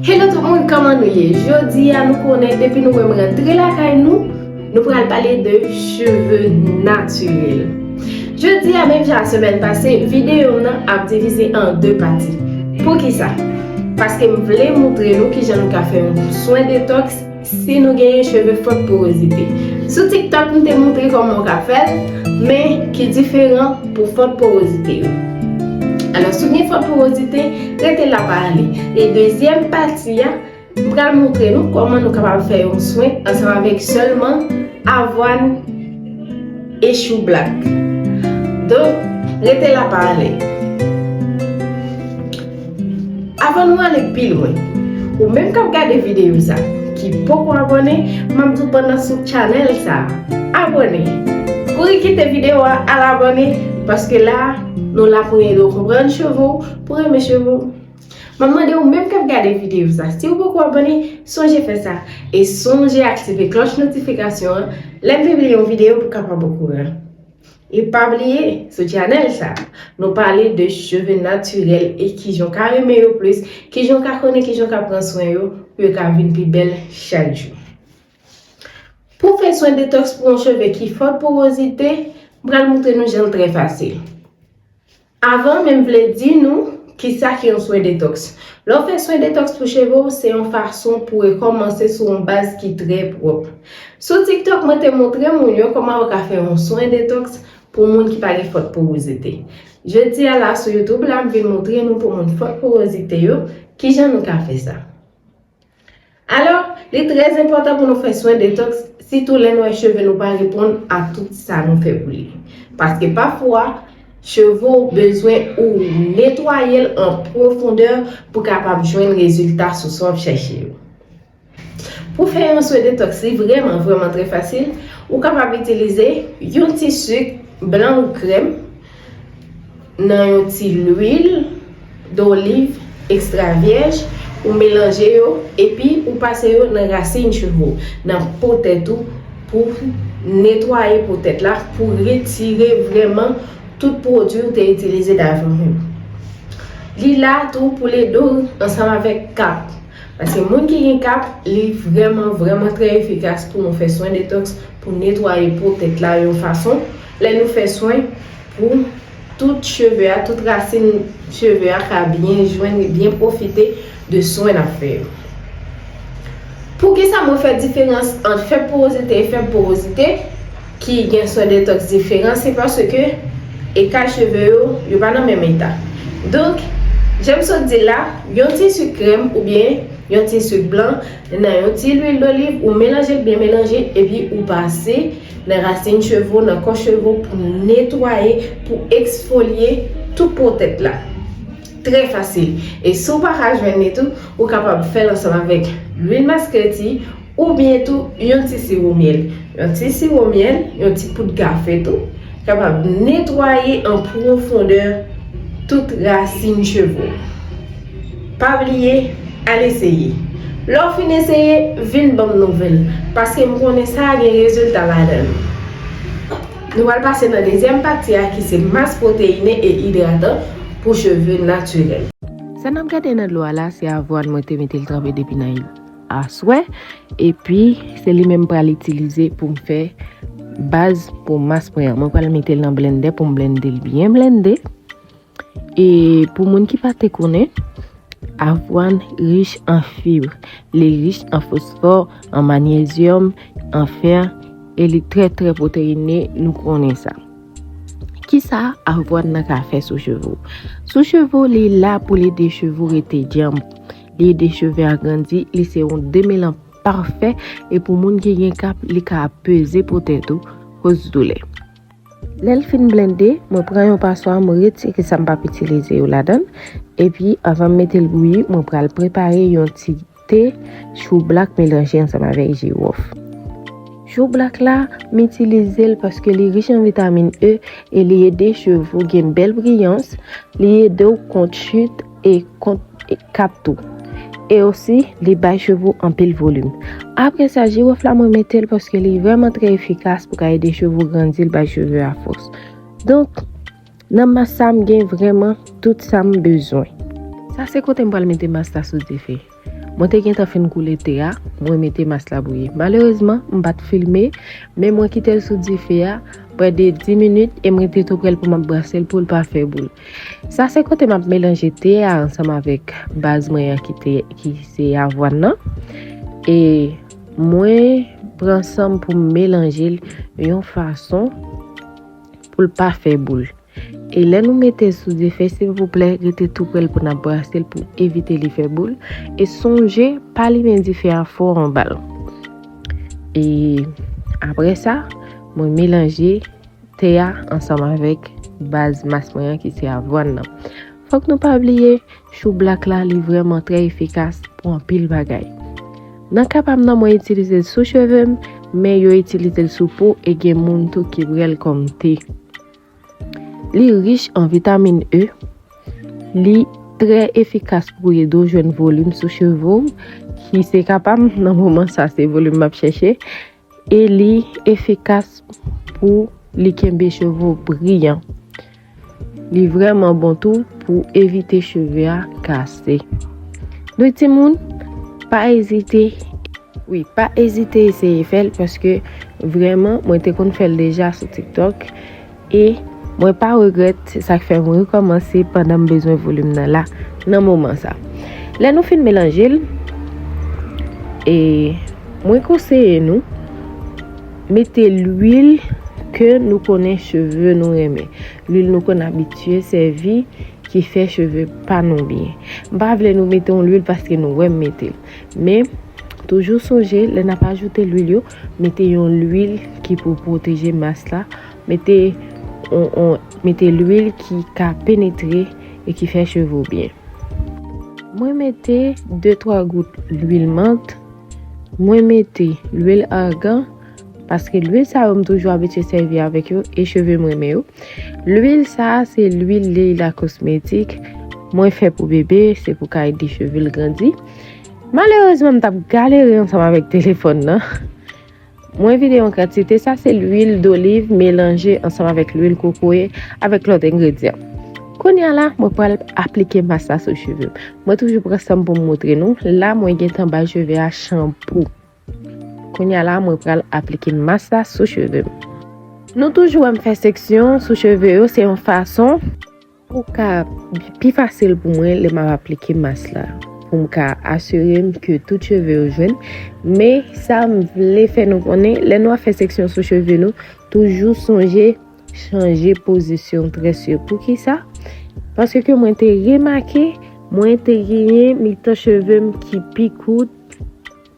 Hello tout moun kòman nou ye jodia nou konnen depi nou wèm rantre lakay nou nou pral pale de cheve natirèl jodia menm jan ak semèn pase videom nan ap divize an 2 pati poukisa paskem vle moutre nou kijan nou ka fè yon swen detox Si nou genyen cheve fòk porozite. Sou tiktok m te moutre kòman ou ka fèl, men ki diferan pou fòk porozite yo. Alò si w gen fòk porozite, rete la pa ale. E dezyèm pati a, m pral moutre nou kòman nou kapab fè yon swen ansanm avèk sèlman avwàn e choublak. Donk rete la pa ale. Avan nou ale pi lwen, ou menm kap gade videyo sa ki poko abòne, map diw pandan sou channel sa, abòne! Kouri kite videyo a al abòne paske la nou la pou edew konprann cheve ou, pou renmen cheve ou. Map mande ou menm kap gade videyo sa, siw poko abòne, sonje fè sa e sonje aktive klòch notifikasyon an lèm pibliye yon videyo pou kapab okouran. E pa bliye, sou channel sa, nou pale de cheve natirèl e kijan w ka renmen yo plis, kijan w ka konnen kijan w ka pran swen yo pou yo ka vin pi bèl chak jou. Pou fè swen detox pou yon cheve ki fò porozite, m pral moutre nou jan l trè fasil. Avanw menm vle di nou kisa ki yon swen detox. Lè w fè swen detox pou cheve w se yon fason pou rekòmanse sou yon baz ki trè pwòp. Sou tiktok mwen te montre moun yo kòman yo ka fè yon swen detox pou moun ki pa gen fòt powozite. Jodi a la sou youtube la m vin montre nou pou moun fòt powozite yo kijan nou ka fè sa. Alò, li trè enpòtan pou nou fè swen detoks sitou lè nou wè cheve nou pa reponn a tout sa nou fè pou li. Paske pafwa, cheve w bezwen ou netwaye l an pwofondè pou kapab jwenn rezilta sou swen w ap chèche yo. Pou fè yon swen detoks li vrèman vrèman trè fasil, ou kapab itilize yon ti sik blan ou krèm, Nan yon ti lwil doliv ekstra vyèj, ou melanje yo epi ou pase yo nan rasin cheve w, nan po tèt ou pou netwaye po tèt la pou retire vrèman tout pwodwi ou te itilize davan yo. Li la tou pou l ede w ansanm avèk kap. Paske moun ki gen kat, li vrèman vrèman trè efikas pou nou fè swen detoks pou netwaye po tèt la yon fason, lè nou fè swen pou tout cheve a, tout rasin cheve a ka byen jwenn byen pwofite de swen nap fè yo. Poukisa mwen fè diferans ant fèb porozite e fèb porozite? ki gen swen detoks diferan se paske eta cheve yo yo pa nan menm eta donk janm sot di la yon ti sik krèm oubyen yon ti sik blan nan yon ti lwil doliv ou melanjel byen melanje epi ou pase nan rasin cheve w nan kò cheve w pou netwaye pou eksfolye tout po tèt la trè fasil e si w paka jwenn li tou ou kapab fèl ansanm avèk lwil masketi Oubyen tou, yon ti siwo myèl. Yon ti siwo myèl, yon ti poud kafe tou, kapab netwaye an pwofondè tout rasin cheve w. Pa bliye, al eseye. Lè w fin eseye, vin ban m nouvèl, paske m konnen sa gen rezilta ladan l. Nou pral pase nan dezyèm pati a ki se mas pwoteyine e idratan pou cheve natirèl. Sa n ap gade nan dlo a la se avwàn mwen te mete l tranpe depi nan. aswè epi se li menm pral itilize pou m fè baz pou mas mwen an mwen pral mete l nan blendè pou m blende l byen blende e pou moun ki pa te konnen Avwàn rich an fib, li rich an fosfò, an manyezyòm, an fè, e li trè trè pwoteyine, nou konnen sa. Kisa avwàn nan ka fè sou cheve ou? Sou cheve ou li la pou li de cheve ou rete djanm. Li de cheve a grandi, li se yon demelan pafè e pou moun ki gen kap li ka ap peze pou tèt ou koz doulè. Lèl fin blende, mwen pran yon paswa mwen retire sa m pap itilize yo ladann epi avan m metel bouyi mwen pral prepare yon ti te chou blak melanje ansanm avèk jiwòf. Chou blak la m itilize l paske li rich an vitamin E e li ede cheve ou gen bèl briyans, li ede ou kont chit, e kont kap tou. E osi li bay cheve w anpil volim. Apre sa jiwof la mwen mete l paske li vrèman trè efikas pou ka ede cheve w grandi l bay cheve a fòs. Donk nan mas sa m gen vrèman tout sa m bezwen. Sa se kote m pral mete mas la sou dife. Mwen te gentan fin koule te a, mwen mete mas la bouyi. Malerezman, m pa t filme, men mwen kite l sou dife a pre de 10 minit e m rete toupre l pou m ap brase l pou l pa fè boul. Sa se kote m ap melanje te a ansanm avèk baz mwen an ki se avwàn nan e mwen pran san m pou m melanje l yon fason pou l pa fè boul. E lè nou metel sou dife silvouplè rete tou prel pou nap brasel pou evite li fè boul e sonje pa limen dife a fò anbal. E apre sa mwen melanje te a ansanm avèk baz mas mwen an ki se avwan nan. Fòk nou pa bliye chou blak la li vrèman trè efikas pou anpil bagay. Nan ka pam nan mwen itilizel sou chevem men yo itilizel sou po e gen moun tou ki brel kòm te. Li rich an vitamin E. Li trè efikas pou ede w jwenn volim sou cheve w, ki se ka pa m nan moman sa se volim m ap chèche. E li efikas pou li kenbe cheve w briyan. Li vrèman bon tou pou evite cheve a kase. se. Dwe ti moun, pa ezite. Wi, pa ezite eseye fè l paske vrèman mwen te konn fè l deja sou TikTok e mwen pa regrèt se sak fè mwen rekòmanse pandan m bezwen volim nan la nan moman sa. Lè nou fin melanje l e mwen konseye nou mete lwil ke nou konnen cheve nou renmen. Lwil nou konn abitye sèvi ki fè cheve pa nou byen. M pa vle nou mete yon lwil paske nou wè m mete l. Men, toujou sonje lè n ap ajoute lwil yo, mete yon lwil ki pou pwoteje mas la, mete yon mete lwil ki ka penetre e ki fè cheve w byen. Mwen mete de twa gout lwil mant, mwen mete lwil argan. Paske lwil sa yo m toujou abitye sèvi avèk yo e cheve m renmen yo. Lwil sa a se lwil Leila Cosmétique mwen fè pou bebe, se pou ka ede cheve l grandi. Malerezman m t ap galere ansanm avèk telefòn nan. Mwen vide yon kantite, sa se lwil doliv melanje ansanm avèk lwil kokoye avèk lòt engredyan. Kounya la mwen pral aplike mas la sou cheve m. Mwen toujou pran san m pou m moutre nou, la mwen gentan bay cheve a chanpou. Kounya la mwen pral aplike mas la sou cheve m. Nou toujou wè m fè seksyon sou cheve yo se yon fason pou ka pi fasil pou mwen lè m ap aplike mas la pou m ka asire m ke tout cheve yo jwenn men sa m vle fè nou konnen lè nou ap fè seksyon sou cheve nou toujou sonje chanje pozisyon très yo pou ki sa paske ke mwen te remake mwen te genyen mitan cheve m ki pi kout.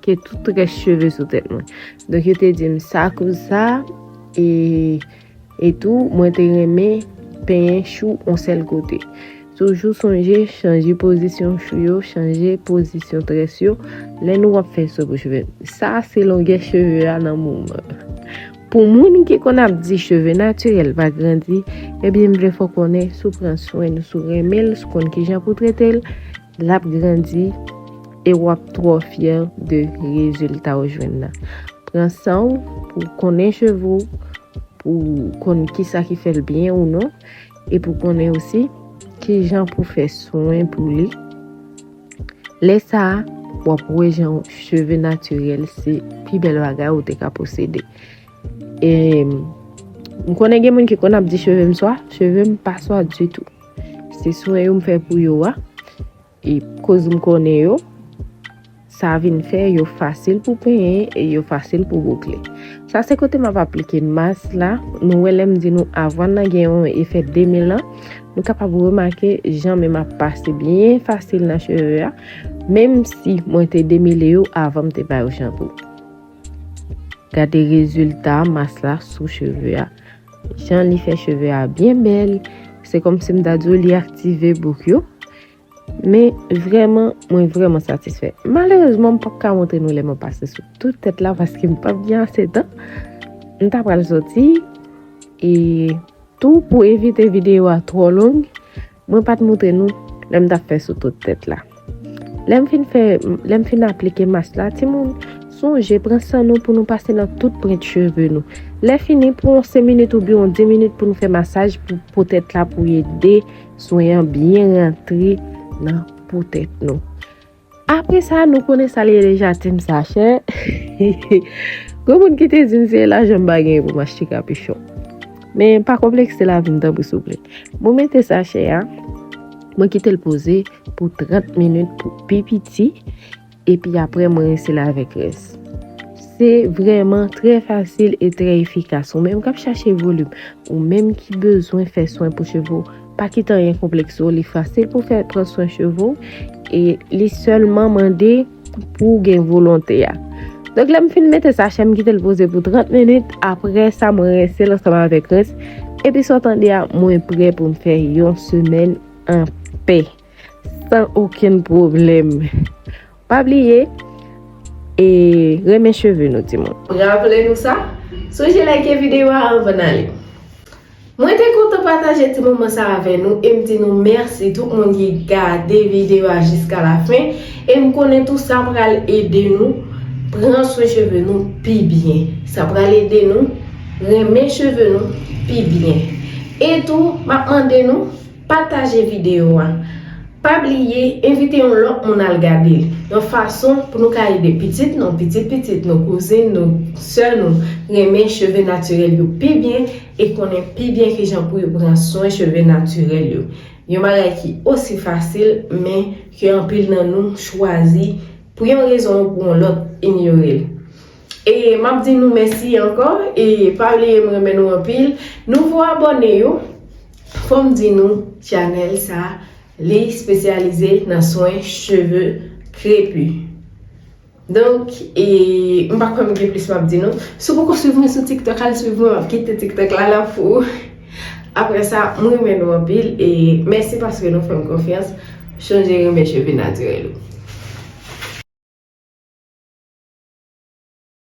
ke tout rès cheve sou tèt mwen. Donk yo te di m sa koz sa e etou mwen te renmen penyen chou on sèl kote. Toujou sonje chanje pozisyon chou yo, chanje pozisyon très yo lè nou ap fè so pou cheve. Sa se longè cheve a nan moman. Pou moun ki konn ap di cheve natirèl pa grandi, ebyen m vle fè w konnen si w pran swen l, si w renmen l, si w konn kijan pou w trete l, Lap grandi e wap twò fyè de rezilta ou jwenn nan. Pran san ou pou w konnen cheve ou, pou w konn ki sa ki fè l byen ou non, e pou konnen osi ki jan pou fè swen pou li. Lè sa, wap wè jan cheve natirèl se pi bèl bagay ou te ka posede. E m konnen gen moun ki konn ap di cheve m swa, cheve m pa swa ditou. Se swen yo m fè pou yo a, e koz m konnen yo, sa vin fè yo fasil pou penyen e yo fasil pou boukle. Sa se kote m ap aplike mas la, nou wè lè m di nou avan nan gen yon efè 2000 an, nou kapab remake jan menm ap pase byen fasil nan cheve a, menm si mwen te demele yo avan m te bay yo chanpou. Gade rezilta mas la sou cheve a. Jan li fè cheve a byen bèl. Se komsi m ta di w li aktive bouk yo. Men vreman, mwen vreman satisfè. Malerezman m pap ka montre nou lè mwen pase sou tout tèt la paske m pap gen ase tan. M ta pral soti. E tou pou evite videyo a twò long. Mwen pat moutre nou lè m tap fè sou tout tèt la. Lè m fin fè, lè m fin aplike mas la, timoun, sonje pran san nou pou nou pase nan tout prent cheve nou. Lè fini, pran yon 5 minit oubyen yon 10 minit pou nou fè masaj pou po tèt la pou ede swen an byen rantre nan po tèt nou. Apre sa nou konnen sa li rele jatim sa chè. Gwo moun ki te di m se lajan m pa genyen pou m achte kapichon. Men pa konplekse lavi m tanpri souple. Mwen mete sa chè a, mwen kite l poze pou 30 minit pou pi piti, epi apre mwen rense l avèk rès. Se vreman trè fasil e trè efikas. Ou menm k ap chache volim, ou menm ki bezwen fè swen pou cheve w. Pa kite anyen konplekse w, li fasil pou fè pran swen cheve w, e li sèlman mande pou w gen volonte a. Donk lè m fin mete sachè m kite l poze pou 30 minit, apre sa mwen rense l ansanm avèk rens, epi sa w tande a mwen prè pou m fè yon semèn an pè, san okenn pwoblèm. Pa bliye e renmen cheve nou ti moun. Raple nou sa? Sonje like videyo a anvan n ale. Mwen te kontan pataje ti moman sa avè nou e m di nou mèsi tout moun ki gade videyo a jiska la fen e m konnen tou sa pral ede nou pran swen cheve nou pi byen sa pral ede nou renmen cheve nou pi byen e tou m ap mande nou Pataje videyo a. Pa bliye envite yon lòt moun al gade l. Yon fason pou nou ka ede pitit nou, pitit pitit nou, kouzin nou, sè nou renmen cheve natirèl yo pi byen e konnen pi byen kijan pou yo pran swen cheve natirèl yo. Yon bagay ki osi fasil men ke anpil nan nou chwazi pou yon rezon ou pou yon lòt inyore l. E map di nou mèsi ankò e pa bliye m renmen nou anpil nouvo abòne yo fòm di nou channel sa li spesyalize nan swen cheve krepu donk e m pa kwè m gen plis map di nou si w poko swiv mwen sou tiktok al swiv mwen map kite tiktok la la pou ou. Aprè sa m renmen nou anpil e mèsi paske nou fèm konfyans chanje renmen cheve natirèl ou.